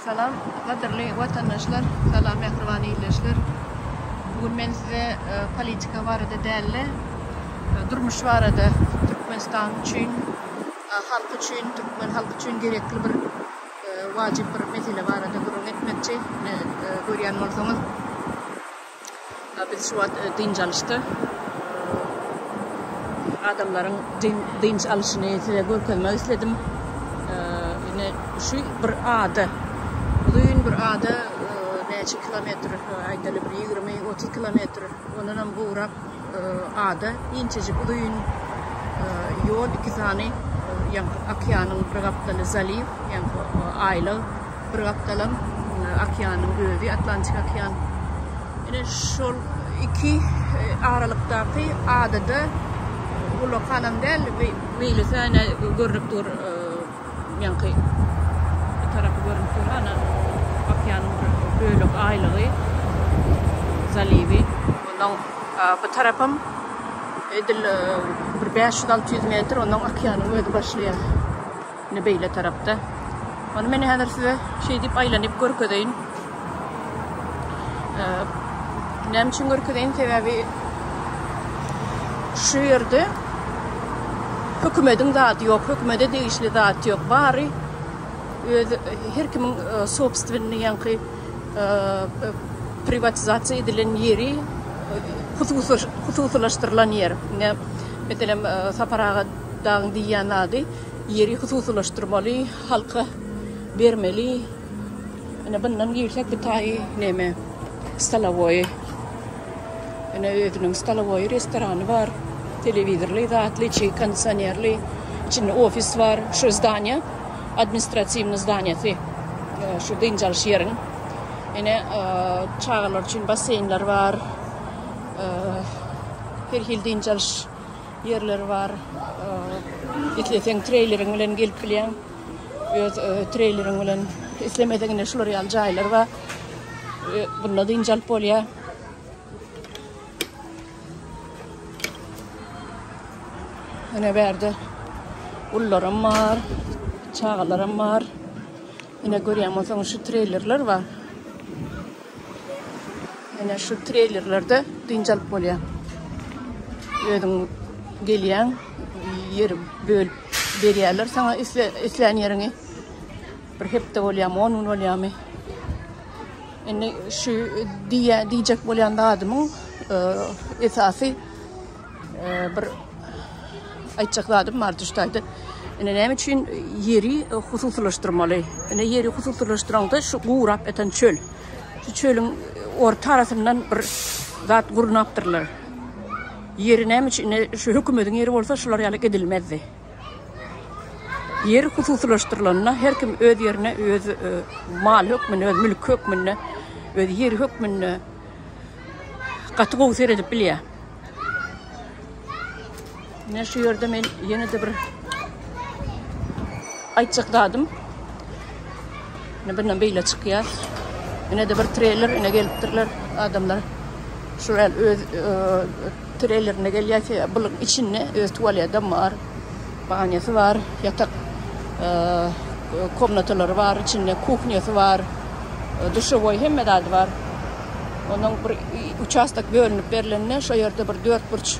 Salam gadyrly watandaşlar salam mähriban ildeşler bu gün men size politika barada dälde durmuş barada Türkmenistan üçin halk üçin Türkmen halk üçin gerekli bir wajyp bir mesele barada gürrüň etmekçi görýän bolsaňyz Biz şu wagt dynç alyşda adamlaryň dynç alyşyny size görkezmek isledim. Ine şu bir ada. Uzyn bir ada näçe kilometr aýdaly bir ýigrimi otuz kilometr ondanam gowrak. Ada inçejik uzyn ýol, iki sany ýaňky okeanyň bir gapdaly zaliw, ýaňky aýlag, bir gapdalam okeanyň özi, Atlantik okean. Ine şol iki aralykdaky adada ullakanam däl, beýle sene görnüp dur. Ýaňky bu tarapy görünip dur, ana okeanyň bir bölek aýlygy, zaliwi. Ondan bu tarapam edil bir bäş ýüz, alty ýüz metr, ondan okeanyň özi başlaýar. Ine beýle tarapda. Ony men häzir size şeýdip aýlanyp görkezeýin. Näme üçin görkezeýin? Sebäbi şu ýerde hökümediň zady ýok, hökümede degişli zat ýok. Bary öz her kimiň e, sobstwenni ýaňky e, e, privatizasiýa edilen ýeri hususylaşdyrylan ýer. Ine, meselem, Sapar aga dagyň diýýän zady ýeri hususylaşdyrmaly, halka bermeli. Ine bundan girsek bu taýy neme? Stolowoýy. Ine özüniň stolowoýy restorany bar. Telewizorly, zatly, içi kondisionerli. Içinde ofis bar. Şu zdaniýa administratiwnyý zdaniýasy. Şu dynç alyş ýeriň. Ine çagalar üçin basseýnler bar. Her hil dynç alyş ýerleri bar. Isleseň treýleriň bilen gelip bilýäň. Öz treýleriň bilen islemediginde şular ýaly jaýlar bar. Bunda dynç alyp bolýar. Ene berde ullaram bar, çagalaram bar. Ene görýän bolsaň şu treylerler bar. Ene şu treylerlerde dynç alyp bolýar. Özüň gelýän, Ýeri bölüp berýärler saňa islän ýeriňi. Bir hepde bolýamy, 10 gün bolýamy? Indi şu diýä diýjek bolýan zadymyň e, esasy e, bir aýtjak zadym bar düşdäde. Ine näme üçin ýeri hususylaşdyrmaly? Ine ýeri hususylaşdyraňda şu gurap ýatan çöl. Şu çölüň orta arasyndan bir zat gurnapdyrlar. Ýeri näme üçin indi şu hökümediň ýeri bolsa şular ýaly edilmezdi. Ýer hususylaşdyrylanda her kim öz ýerine öz maly hökmünde öz mülki hökmünde öz ýeri hökmünde gaty gowy seredip bilýär. Ine şu ýerde men ýene-de bir aýtjak zadym Ine birden beýle çykýar. Ine-de bir treyler ine gelipdirler adamlar. Şular öz treylerinde gelýär ki, bulyň içinde öz tualedem bar. Banyasy bar, ýatak komnatalary bar, içinde kuhnýasy bar. Duşewoý hemme zady bar. Onuň bir uçastak bölünip berlende şo ýerde bir dört burç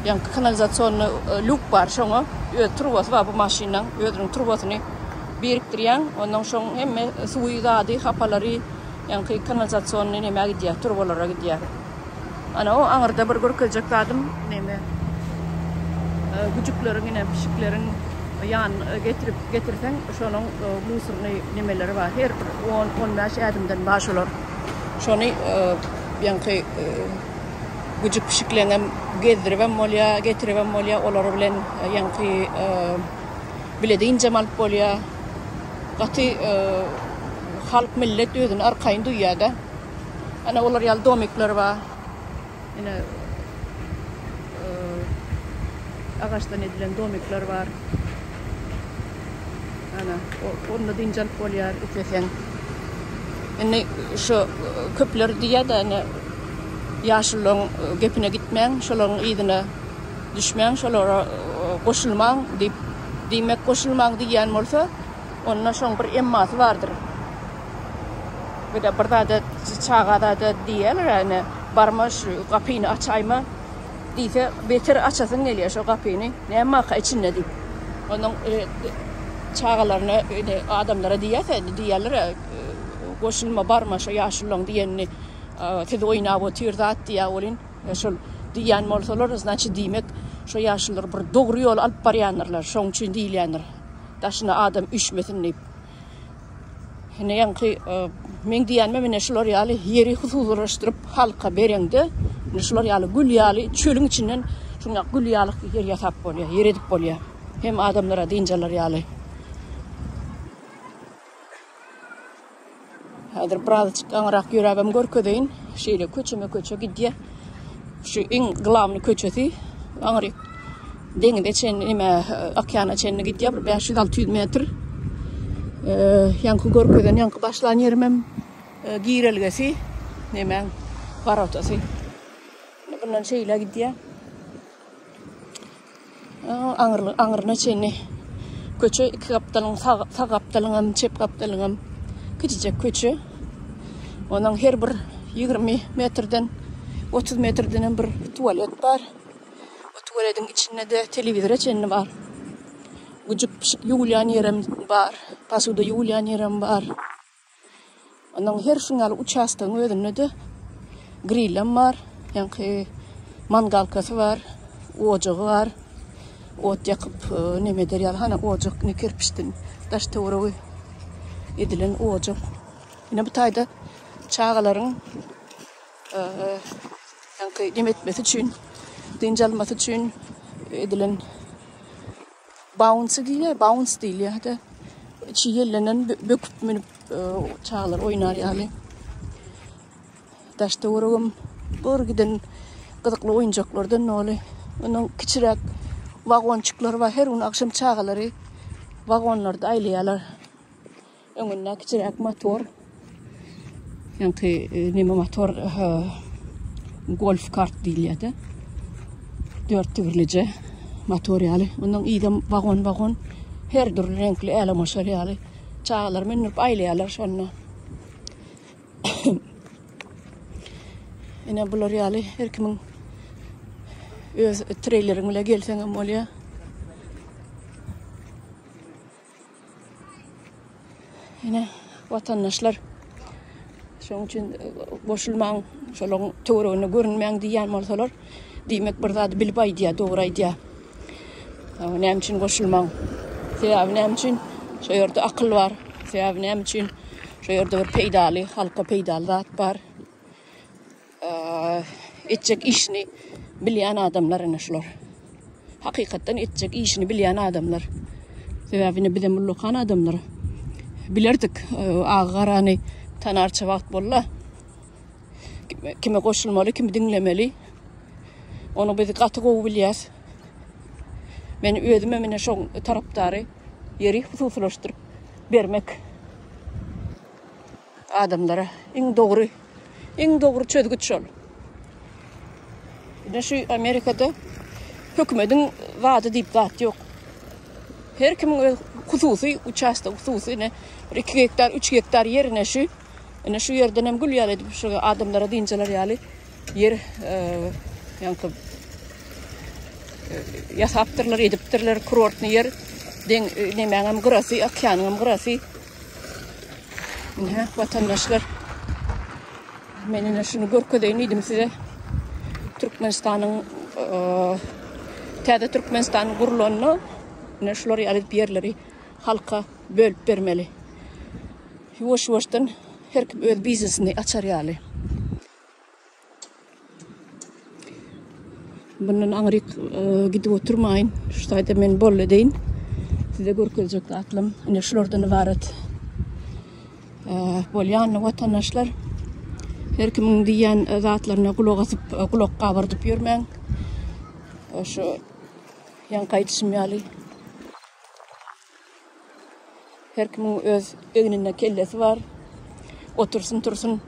ýa kanalizasionny luk bar, şoňa öz turbasy bar bu maşynyň, özüniň turbasyny birikdirýäň ondan şoň hemme suwy zady hapalary ýaňky kanalizasionny nämä gidýär turbalara gidýär ana o aňyrda bir görkezjek zadym neme güjükleriň ine pişikleriň ýan getirip getirseň şonuň musurny nemeleri bar her bir on on bäş ädimden bar şolar şony ýaňky güjük pişikleňem gezdiribem bolýar getiribem bolýar olar bilen ýaňky Bilede ynjam alyp bolýar. Gaty halk millet özüni arkaýyn duýýada. Ana olar ýaly domikler bar. Ine agaçdan edilen domikler bar. Ana onda dynç alyp bolýar isleseň. Indi şu köpler diýýada ine ýaşullaň gepine gitmäň, şolaň yzyna Düşmäň şolara goşulmaň diýip diýmek goşulmaň diýýän bolsa onda şoň bir emmasy bardyr. Birde bir zada çaga zada diýýäler ene barma şu gapyny açaýma diýse beter açasyň gelýär şo gapyny näme waka içinde diýip. Onuň e, çagalaryna ene adamlara diýýärse diýýärler goşulma barma şo ýaşullaň diýenini siz oýnap otyr zat diýýär welin Şol diýýän bolsalar, znaçy diýmek, şo ýaşululary bir dogry ýola alyp barýandyrlar. Şoň üçin diýilýändir. Daşyna adam üşmesin diýip. Ine ýaňky men diýýänme mine şular ýaly ýeri hususylaşdyryp halka bereňde, ine şular ýaly gül ýaly çölüň içinden şuňa gül ýaly ýer ýasap bolýar, ýer edip bolýar. Hem adamlara dynjalar ýaly. Häzir birazjyk gaňyrak ýöräbem görkezeýin. Şeýle köçeme köçe gidýär. Şu iň glavny köçesi gaňyryk deňize çenli nime okeana çenli gidýär bir 500-600 metr. Ýaňky görkezen ýaňky başlan ýerim hem girelgesi nime worotasy. Bundan şeýle gidýär. Aňyrly aňyryna çenli köçe iki gapdalyň sag sag gapdalyň hem çep gapdalyň hem kiçijek köçe. Onuň her bir 20 metrden 30 metrden hem bir tualet bar. O tualetiň içinde de telewizora çenli bar. Güjük pişik ýuwulýan ýerem bar. Posuda ýuwulýan ýerem bar. Onuň her şuň ýaly uçastogyň özünde-de grillem bar, ýaňky mangalkasy bar, ojagy bar. Ot ýakyp, näme eder ýaly, hany ojak ine kerpiçden daş-töweregi edilen ojak. Ine bu taýda çagalaryň ýaňky näme etmesi üçin, dynç almasy üçin edilen Baunsy diýilýär, bauns diýilýär-de. Içi ýellenen, böküp münüp çagalar oýnar ýaly. Daş töweregim bir giden gyzykly oýunjaklardan doly. Onuň kiçiräk wagonçyklary bar. Her gün agşam çagalary wagonlarda aýlaýarlar. Öňünde kiçiräk motor. Ýaňky e, neme motor golf kart diýilýärdi. Dört tigirlije motor ýaly. Ondan ýa wagon wagon her dürli reňkli äle maşal ýaly. Çagalar münüp aýlaýarlar şonda. Ene bular ýaly her kimin öz treýleriň bilen gelseň hem bolýar. Ýene watandaşlar şoň üçin goşulmaň, şolaň töweregine görünmäň diýýän bolsalar, diýmek bir zady bilip aýdýar, dogry aýdýar. Näme üçin goşulmaň? Sebäbi näme üçin? Şo ýerde akyl bar. Sebäbi näme üçin? Şo ýerde bir peýdaly, halka peýdaly zat bar. Etjek işini bilýän adamlar ene şular. Hakykatdan etjek işini bilýän adamlar. Sebäbini bizem ullakan adamlar. Bilerdik e, agy garany tanarça wagt bolla. Kime goşulmaly, kimi diňlemeli. Onu biz gaty gowy bilýäs. Men özüme mine şo tarapdary ýeri hususlaşdyryp bermek Adamlara iň dogry, iň dogry çözgüt şol. Ine şu Amerikada hökümediň zady diýip zat ýok. Her kimiň öz hususy uçastok, hususy ine bir 2 gektar, 3 gektar ýer ine şu. Ine şu ýerden hem gül ýaly edip şu adamlara dynjalar ýaly ýer e, ýaňky e, ýasapdyrlar, edipdirler kurortny ýer. Deň e, nemäň hem gyrasy, okeanyň hem gyrasy. Ine, watandaşlar, men ine şunu görkezeýin diýdim size. Türkmenistanyň täze Türkmenistanyň gurulanda ine şular ýaly ýerleri halka bölüp bermeli. Ýuwaş-ýuwaşdan her kim öz biznesini açar ýaly. Bundan aňryk e, gidip oturmaýyn. Şu taýda men bolly deýin. Size görkezjek zatlam ine şulardan ibarat. E, Bolýanly watandaşlar her kimiň diýýän e, zatlaryna gulak asyp, e, gulak gabyrdyp ýörmäň. Şu ýaňky aýdyşym ýaly Her kimiň öz egninde kellesi bar. Otursyn, tursyn,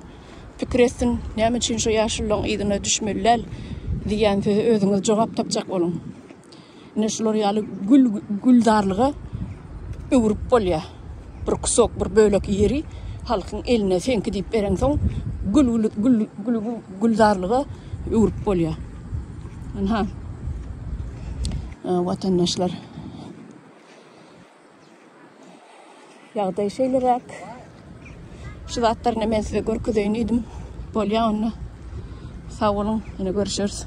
pikir etsin, näme üçin şu ýaşulularyň yzyna düşmeli däl diýýän söze özüňiz jogap tapjak boluň. Ine şular ýaly gül gülzarlyga öwrüp bolýar. Bir kusok, bir bölek ýeri halkyň eline seňki diýip bereňsoň, gül gül gül gülzarlyga öwrüp bolýar. Ynha, watandaşlar. Ýagdaý şeýleräk. Şu zatlaryny men size görkezeýin diýdim. Bolýa onda. Sag boluň, ýene görüşeris.